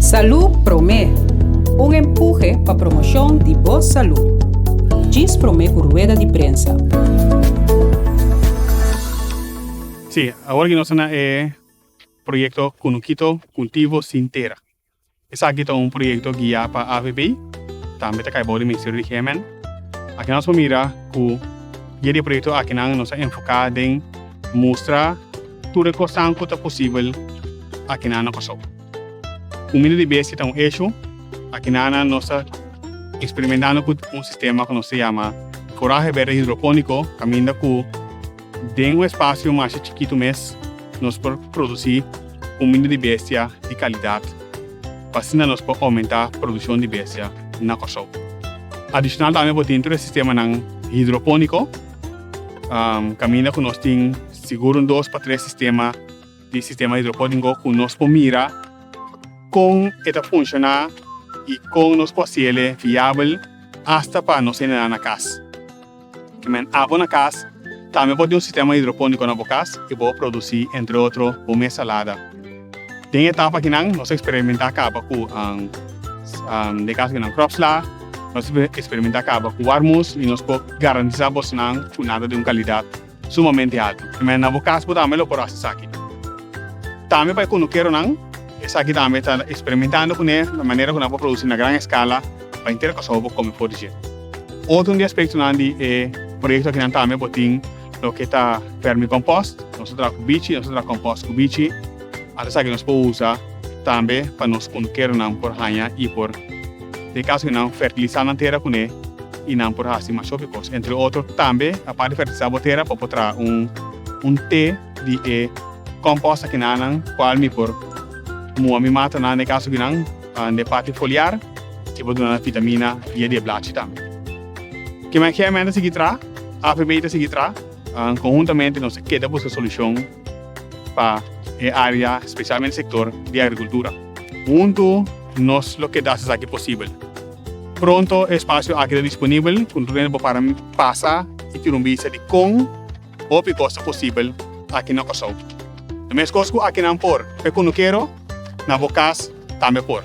Salud Prome, un empuje pa promoshon di bo salud. Djis prome ku rueda di prensa. Sí, awor aki nos ta na e proyekto Kunukito, Kultivo Sin Tera. Esaki ta un proyekto guia pa avb, tambe ta kai bou di Ministerio di GMN. Aki nos por mira ku via di e proyekto akinan nos a enfoká den mustra tur e kosnan ku ta posibel akinan na Kòrsou. Kumida di bestia ta un eshu. Aki nana nos ta eksperimentando ku un sistema ku nos ta yama foraje berde hidropóniko kaminda ku. Den un espasio masha chikitu mes nos por produsí un mindo di bestia di kalidat pa asina nos por oumentá produshon di bestia na Kòrsou. Adishonal tambe bo tin tur e sistemanan hidropóniko, kaminda ku nos tin sigur un dos pa tres sistema di sistema hidropóniko ku nos por mira kon e ta funshoná i kon nos por hasiel e viabel asta pa nos hende nan na kas. Te men abo na cas. Tambe bo tin un sistema hidroponico na bo cas y bo a produci entre otro bo mes salada. Den e etapa akinan nos a experimenta caba cu den e caso di nan crops la nos a experimenta caba cu warmus y nos por garantisa bosnan cu nada di un calidad. sumamente alto. Mester na bo cas bo tambe lo por haci esaki. Tambe pa e cunucheronan, esaki tambe ta experimentando cu ne na manera cu nan por produci na gran escala pa henter Curaçao por come for di dje. Otro di aspectonan di e proyecto aki nan tambe bo tin loke ta vermicompost. Nos ta traha cu bichi, nos ta traha compost cu bichi. Ata esaki nos por usa tambe pa nos cunucheronan por haya y por Den kaso di nan fertilisá nan tera kuné i nan por hasi mas hopi kos. Entre otro tambe apart di fertilisá bo tera bo por traha un te di e kòmpòst aki na nan kual mi por mua mi mata na den kaso di nan den e parti foliar i por duna nan vitamina via di e blachi tambe. Ke mai ke MEN ta sigui traha? AVB ta sigui traha an konhuntamente nos a keda buska solushon pa e área spesialmente sektor di agrikultura huntu. Nos lo keda hasi esaki posibel. Pronto e espasio aki ta disponibel ku tur hende por para pasa i tira un bista di kon hopi kos ta posibel aki na Kòrsou. Lo meskos ku aki nan por, pe Konukero, na bo kas tambe por.